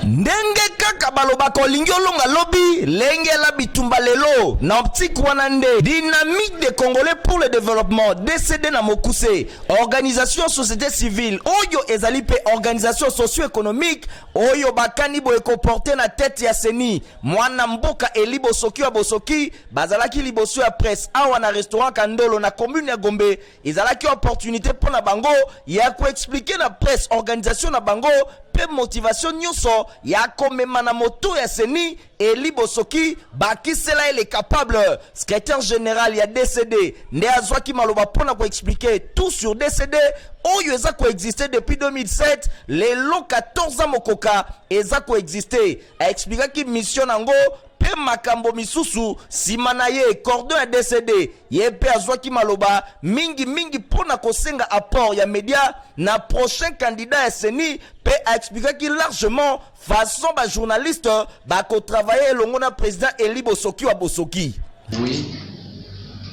Ndenge kaka balobaka olingi olonga lobi, lengela bitumba lelo. Na optique wana nde Dynamique des Congolais pour le Developpement, DCD na mokuse, organisation société civile oyo ezali mpe organisation socio-economique oyo bakani boye ko porter na tete ya CENI mwana mboka Eli Bosoki wa Bosoki bazalaki liboso ya presse awa na restaurant Kandolo na commune ya Gombe Ezalaki opportunite mpo na bango ya ko expliquer na presse organisation na bango mpe motivation nyonso ya komema na moto ya ceni Elie Bosoki bakisela ye le capable secretaire general ya DCD nde azwaki maloba mpo na ko expliquer tout sur DCD oyo eza ko existe depuis 2007 lelo 14 ans mokoka eza ko existe aexplikaki mission na yango mpe makambo misusu nsima na ye cordon ya DCD Ye mpe azwaki maloba mingi mingi mpo na kosenga apport ya media na prochain candidat ya CENI mpe a expliquaki largement façon ba journalistes bako travailler elongo na president Eli Bosoki wa Bosoki. Oui,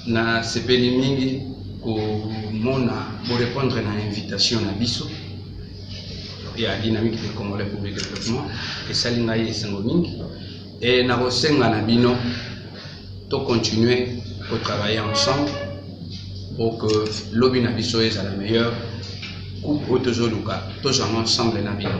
na sepeli mingi komona bo repondre na invitation na biso ya dynamique de Congolais pour le développement esali ngai esengo mingi Et nakosenga na bino to continuer ko travailler ensemble pour que lobi na biso ezala meilleur coupe oyo tozoluka tozwanga ensemble na bino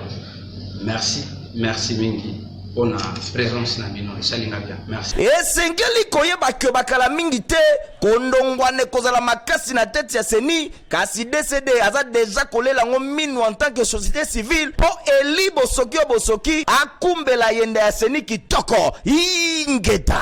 merci merci mingi mpona présence na bino esali nga bien merci esengeli koyeba ke bakala mingi te kondongwana ekozala makasi na tete ya seni kasi dcd aza deja kolela yango minu en tant que société civile mpo eli bosoki yo bosoki akumbela yenda ya seni kitoko ingeta